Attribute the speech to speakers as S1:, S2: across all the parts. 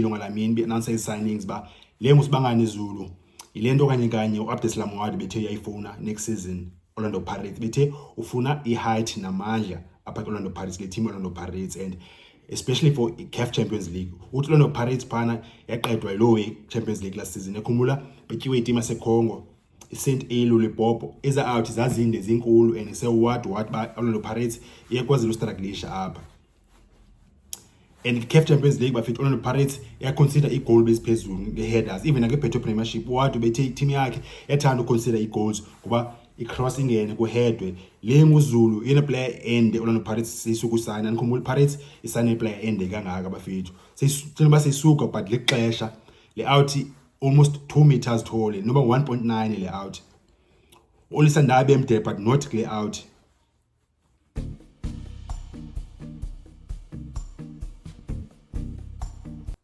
S1: ilunga lamini beanansa ii-signings uba le ngusibangani izulu yile nto okanye kanye u-abdes lamwadi bethe uyayifuna next season orlando pirates bethe ufuna i-height namandla apha kwi-orlando pirates le team orlando pirates and especially for i-caf champions league uthi orlando pirates phana yaqedwa yiloo i-champions league last season ekhumbula betyiwe itim yasecongo i-st elu lipopo eza out zazinde zinkulu and sewuwad wad uba orlando pirates iyekwazela ustraglisha apha and i-caf champions league bafethu orlando pirates yaconsider igoal beziphezulu nge-headers even nakebhetho premiership wade ubethe itim yakhe yathanda uconsider ii-goals ngoba icross ingene kuhedwe le nguzulu yena player ende orlando pirates seyisukusayina ndikhumbula ipirates isayine player ende kangaka bafethu seyitshela uba seyisuka but lixesha le out almost two meters tall noba 1.9 le out olisandabe emde but not kule out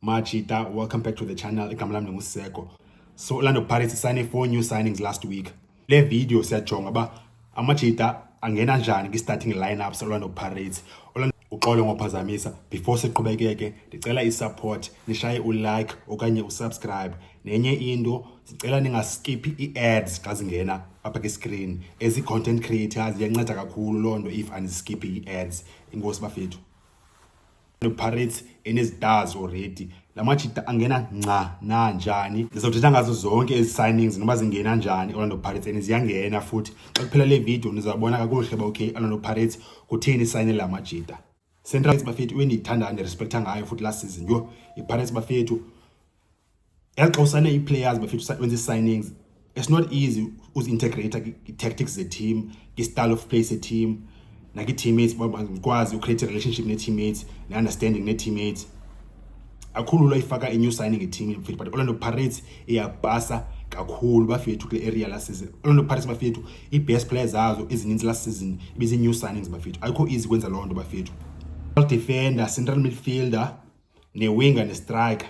S1: Machita, welcome back to the channel. Igama lami ndingusiseko. So Orlando Pirates signed four new signings last week. Le video siyajonga uba amajita angena njani kwi-starting lineups Orlando Pirates. Orlando uxolo ngophazamisa before siqhubekeke ndicela isupport nishaye ulike okanye usubscribe nenye into sicela ningaskiphi ii-ads xa zingena apha kwi-screen as i-content creators iyanceda kakhulu loo nto if andiskiphi ii-ads inkosi bafethu pirates enezitazi already la majita angena nca nanjani ndizawuthetha ngazo zonke ezi signings noba zingena njani orlando pirates and ziyangena futhi xa kuphela le video ndizawubona kakuhle uba okay orlando pirates kutheni isayinile la majita central rights bafethu iwe ndiyithandayo ndirespektha ngayo futhi last season yho ipirates bafethu yaxa usane ii-players bafethu wenza ii-signings it's not easy uzi-integrata i-tactics ze-team i-style of play se-team nakwi-teammates ukwazi ucreate relationship ne-teammates ne-understanding ne-teammates akhulu lwayifaka inew signing eteam yomfethu but orlando pirates iyabhasa kakhulu bafethu kule area last season orlando pirates bafethu i-best player zazo ezininzi last season ibizi-new signings bafethu ayikho easy kwenza loo nto bafethu defender central midfielder newinger nestriker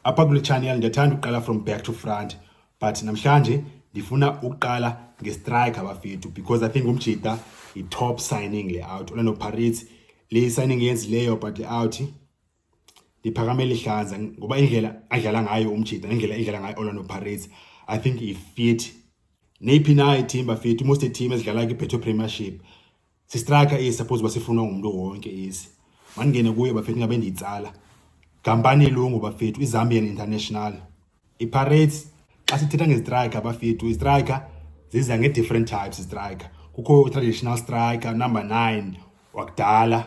S1: apha kule channel ndiyathanda ukuqala from back to front but namhlanje ndifuna ukuqala ngestriker bafethu because i think umjita yi-top signing le out orlando pirates le signing yenzileyo but le out ndiphakame lihlaza ngoba indlela adlala ngayo umjita nendlela edlala ngayo Orlando Pirates I think ifit neyiphi na iteam bafit most team ezidlala kwiBetway Premiership sistraka isi suppose uba sifunwa ngumntu wonke isi mandingene kuyo bafethu ngabe ndiyitsala gampani elungu bafethu izambian international ipirates xa sithetha ngezitrika bafethu izitrika ziza nge-different types izitrika kukho i-traditional striker number nine wakudala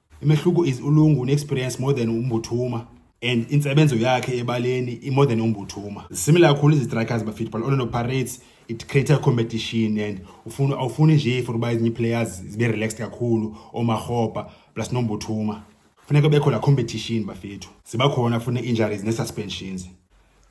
S1: Imehluko is uLungu une-experience more than uMbuthuma and intsebenzo yakhe ebaleni i-more than uMbuthuma. Similar kakhulu izistrikers bafit but Orlando Pirates it creates a competition and ufuna awufuni nje for uba ezinye ii-players zibe relaxed kakhulu oomarhobha plus nombuthuma. Funeka kubekho laa competition bafethu. Ziba khona funa injuries nee-suspensions.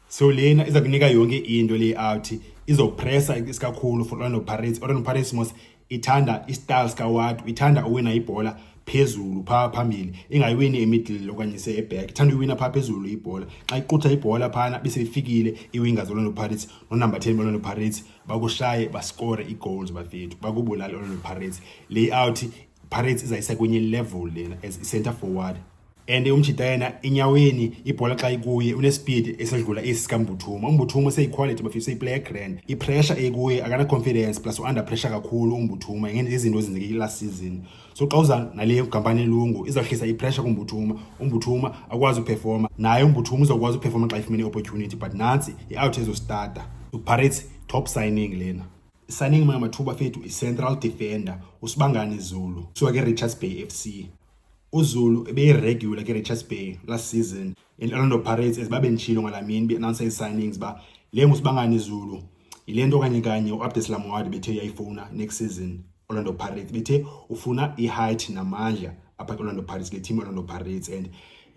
S1: so lena iza kunika yonke into le out izopressa isikakhulu for Orlando Pirates Orlando Pirates mos ithanda istyle sikawat ithanda uwina ibhola phezulu phaa phambili ingayiwini emiddle okanye se eback ithanda uyiwina phaa phezulu ibhola xa iqutha ibhola phana beseyifikile iwinga zolonto pirates nonumber 10 bolonto pirates bakushaye baskore igoals bafethu bakubulale olonto pirates layout pirates izayisa kwenye level lena as i-center forward and umjita yena inyaweni ibhola xa ikuye unespeed esedlula esi sikambuthuma umbuthuma useyiquality bafisa useyiplayer grand ipressure eyikuye akana-confidence plus u-under pressure kakhulu umbuthuma ingene izinto ezenzeke i-last season so xa uza nale kampani elungu izawuhlisa ipressure kumbuthuma umbuthuma akwazi uperforma naye umbuthuma uzawukwazi uperforma xa ifumene i-opportunity but nantsi i-out ezostata upirates top signing lena signing mamathuba fethu i-central defender usibangani zulu suka ke-richards bay f c UZulu ebeyiregular kwiRichards Bay last season i-Orlando Pirates as babendishilo ngala mini be-announsa ii-signings uba le ngusibangani izulu yile nto kanye kanye u-abdes lamwadi bethe uyayifuna next season orlando pirates bethe ufuna i-height namandla apha kwi-orlando pirates le team orlando pirates and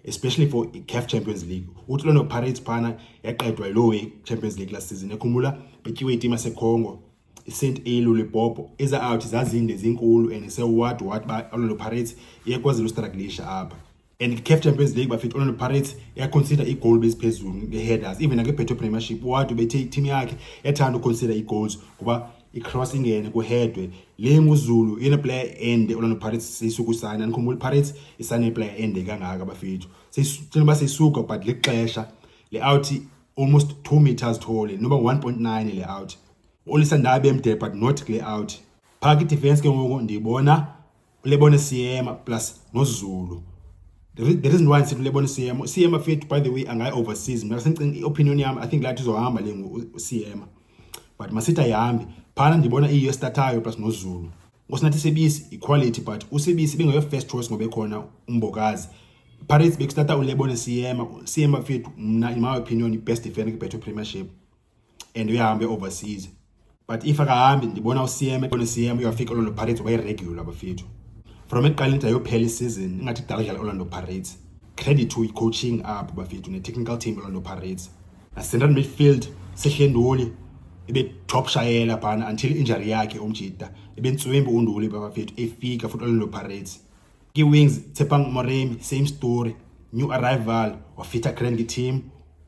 S1: especially for i-caf champions league uthi orlando pirates phana yaqedwa yiloo champions league last season ekhumbula betyiwe itimu yasecongo isent a lollipop eza out zazinde zinkulu and se what what ba Orlando Pirates iyakwazela ustruglisha apha and CAF Champions League bafithe Orlando Pirates yaconsider i-goal beziphezulu nge-headers even nange-Betway Premiership what ubethe i-team yakhe yathanda uconsider i-goals kuba i-cross ingene kuhedwe le nguzulu yena player ende Orlando Pirates seyisukusayina nikhumbula i-Pirates isane player ende kangaka bafethu seyitshela uba seyisuka but lixesha le-out almost 2 meters tall noba 1.9 le out olisa ndabe mde but not kule out phaa kidefense ke ngoku ndiyibona ulebone siyema plus nozulu the reason why ndisithi ulebone siyema siyema fethu by the way angayi overseas mna sendicinga i-opinion yam i think lathi izohamba le ngoku siyema but masithi ayihambi phana ndibona iyiyo esitathayo plus nozulu Ngosingathi Sibisi iquality but uSibisi bengeyo first choice ngoba ekhona umbokazi. Pirates bekusitata uLebone Siyema, Siyema mfethu mna in my opinion ibest defender kwiBetway Premiership and uyahambe overseas. But if akahambi ndibona uSiyema, ndibona uSiyema uyafika Orlando Pirates waye regular bafethu. From eqaleni into yophela isizini ingathi idala idlala Orlando Pirates. Credit to coaching up bafethu ne technical team Orlando Pirates. nascentral midfield sehlenduli ebetop shayela phana until injury yakhe umjita ebentswembi unduli babafethu efika futhi orlando pirates kii-wings tsepang moremi same story new arrival wafitha cranky team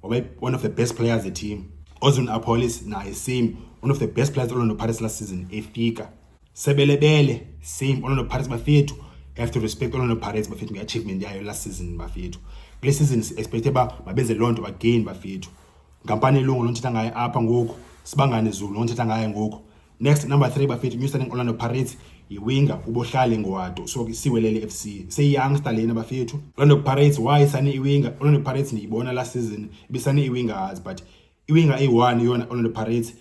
S1: waba one of the best players the team ozun apolis naye same one of the best players orlando pirates last season efika Sebelebele, same Orlando Pirates bafethu. You have to respect Orlando Pirates bafethu nge-achievement yayo last season bafethu. Kule season si-expecte uba mabenze loo nto again bafethu. Nkampani elungu londithetha ngayo apha ngoku, Sibangane Zulu londithetha ngayo ngoku. Next number 3 bafethu new signing Orlando Pirates yiwinga ubohlale ngowado so siwelele FC seyiyoungster lena bafethu Orlando Pirates why sane iwinga Orlando Pirates ndiyibona last season ibisane iwingers but iwinga eyi-one yona Orlando Pirates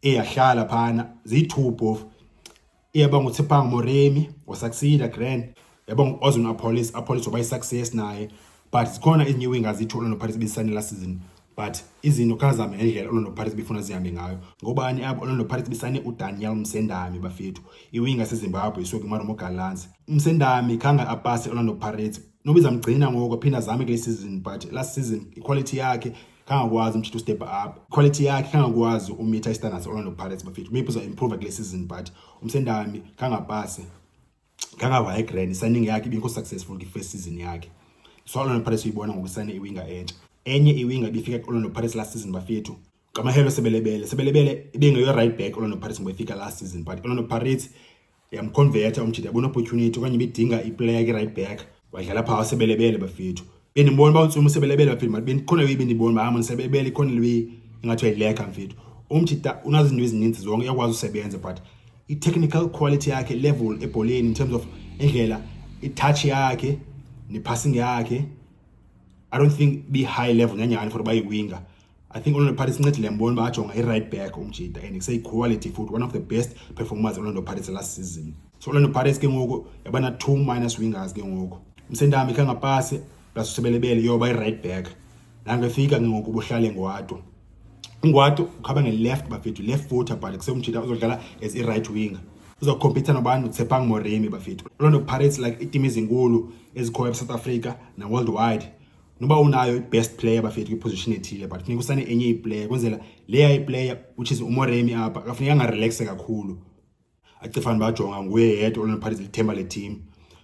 S1: eyahlala phana ziyi-two phofu eyaba ngutsipang moremi wasucceeda grand yaba ngu-ozon apollis apollis waba yi-success naye but zikhona izinye iwinga zithi orlando pirates ibizisane last season but izinto khazame ngendlela orlando pirates bifuna zihambe ngayo ngobani apho orlando pirates bisane udaniel msendami bafethu iwinga sezimbabwe isuke imaromo galance msendami khange apase orlando pirates nobizamgcina ngoko aphinde azame kule season but last season iquality yakhe kangakwazi umtshitha ustep up quality yakhe kangakwazi umitha istandards orlando pirates bafethu maybe uzoimprova kule season but umsendami kangapase kangavaya igrand isigning yakhe ibingekho successful kwi-first season yakhe so orlando pirates uyibona ngokusayina iwinga entsha enye iwinga ibifika ku-orlando pirates last season bafethu ngamahelo sebelebele sebelebele ibingeyo-right back orlando pirates ngoba ifika last season but orlando pirates yamkhonvetha umjita yabona opportunity okanye bedinga iplayer ke right back wadlala phaa wasebelebele bafethu bendibona uba untsumu usebelebele bafethu mati bendikhona leyi bendibona uba hama usebelebele ikhona leyi ingathi uyayileka mfethu umjita unazinto ezininzi zonke uyakwazi usebenza but i-technical quality yakhe level ebholeni in terms of indlela itouch yakhe nepassing yakhe i don't think be-high level nyanyani for uba yiwinga I think Orlando Pirates incedile mbona uba ajonga i-right back umjida and kuseyi-quality futhi one of the best performers Orlando Pirates last season so Orlando Pirates ke ngoku yabana two minus wingers ke ngoku msendami khe ngapasi plus usebelebele yoba i-right back nangefika ke ngoku buhlale ngwato ungwato ukhaba nge-left bafethu left footer but kuseumjida uzodlala as i-right winger uzokhompitha nobani utsepang moremi bafethu Orlando Pirates like itim ezinkulu ezikhoyo e-south africa na-worldwide noba unayo i-best player bafethu kwiposition ethile but funeka usane enye iplayer kwenzela leya iplayer which is umoremi apha akafuneka angarelaxe kakhulu acifane bajonga nguye yedwa olonophathiza lithemba leteam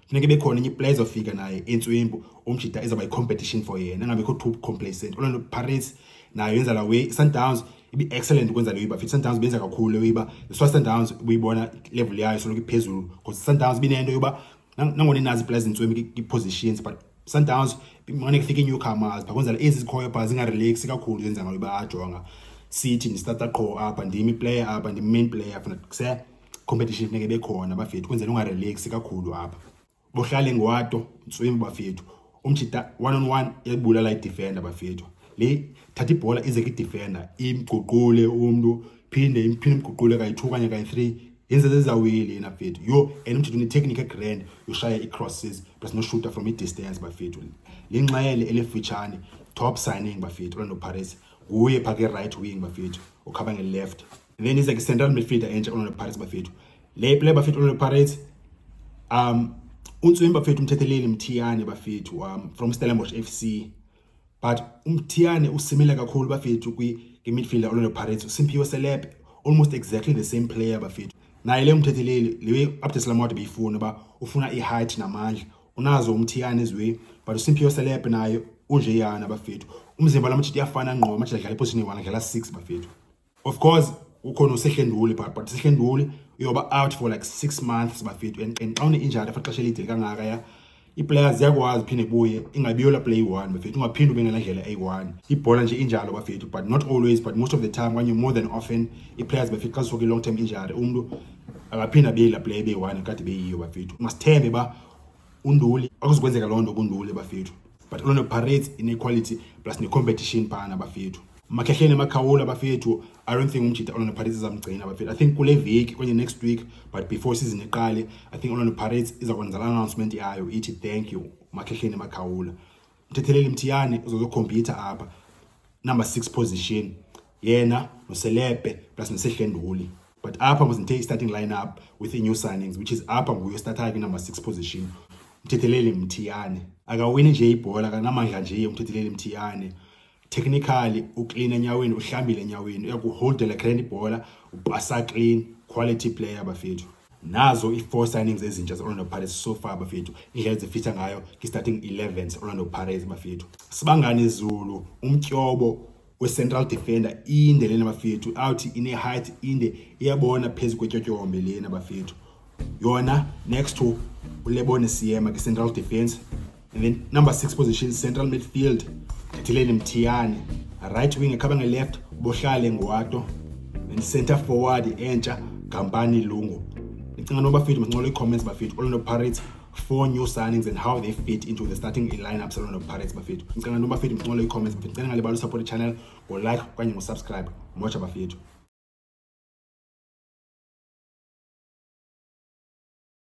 S1: funeka bekhona enye iplayer ezofika naye entswimbu umjita ezawuba yi-competition for yena angabekho too complacent olonto paris nayo yenza la way sundowns ibi-excellent ukwenza leyo iba futhi sundowns benza kakhulu leyo iba iswa sundowns ubuyibona level yayo soloko iphezulu because sundowns binento yoba nangona inazi ipulazi zintswemi kwi-positions but sundowns mane kufika i-newcomers bakwenzela ezi zikhoyo phaa zingarelaxi kakhulu zenza ngayo bayajonga sithi ndistarta qho apha ndim iplayer apha ndim main player funa kuse competition funeke bekhona bafethu kwenzela ungarelaxi kakhulu apha bohlale ngwato ntswimi bafethu umjita one on one yayibulala idefenda bafethu le thatha ibhola ize kidefenda imguqule umntu phinde imphinde imguqule kayi-two okanye kayi-three yenze zezawile yena bafethu yho and umjita unetechnique egrand yoshaya ii-crosses plus noshuta from i-distance bafethu le nxele elifutshane top signing bafethu orlando paris nguye phaa ke-right wing bafethu okhaba nge-left then ize ke-central midfielder entsha orlando paris bafethu Le play bafethu Orlando Pirates um untswini bafethu umthetheleli Mthiyane bafethu um from Stellenbosch FC but uMthiyane usimile kakhulu bafethu kwi midfielder Orlando Pirates uSimphiwe Selepe almost exactly the same player bafethu naye le umthetheleli le update Slamode beyifuna ba ufuna i-height namandla unazo umthiyane ezwe but uSimphiwe Selepe naye unjeyana bafethu umzimba lamajita iyafana ngqo amajita adlala eposition eyi-one adlala six bafethu of course ukhona usehlenduli but but usehlenduli uyoba out for like six months bafethu and xa une-injury for xesha elide kangaka ya ii-players ziyakwazi phinde buye ingabiyola play one bafethu ungaphinde ube ngela ndlela eyi-one ibhola nje injalo bafethu but not always but most of the time okanye more than often ii-players bafethu xa zisuke i-long term injury umntu akaphinde abeyela play beyi-one kade beyiyo bafethu masithembe uba unduli akuzikwenzeka loo nto kunduli bafethu but orlando pirates inequality plus necompetition phana bafethu makhehleni makhawula bafethu i don't think umjita orlando pirates izamgcina bafethu i think kule veki kwenye next week but before season iqale i think orlando pirates iza kwenza la announcement yayo ithi thank you makhehleni makhawula uthethelela imthiyane uzozokhompyutha apha number six position yena noselebe plus nesehlenduli but apha must ndithe i-starting line up with i-new signings which is apha nguyo starthayo kwinumber six position umthetheleli mthiyane akawini nje ibhola akanamandla nje umthetheleli mthiyane technically uklina enyaweni uhlambile enyaweni uyakuholdela clean ibhola ubhasa clean quality player bafethu nazo i-four signings ezintsha ze-orlando pirates so far bafethu indlela ezifitha ngayo ki-starting 11 ze-orlando pirates bafethu sibangane zulu umtyobo we-central defender inde lena bafethu awuthi ine-height inde iyabona phezu kwetyotyombe lena bafethu yona next to ulebone siyema kwi-central defense And then number six position, central midfield, Tileni Mtiyane. Right wing, Kabanga left, Boshale Ngwato. Then center forward, Encha, Kampani Lungu. Ndicinga noba bafethu masincola ii-comments bafethu Orlando Pirates four new signings and how they fit into the starting lineup Orlando Pirates bafethu. Ndicinga noba bafethu masincola ii-comments bafethu. Ndicela ngalibala usupport i-channel ngo-like okanye ngo-subscribe. Moja bafethu.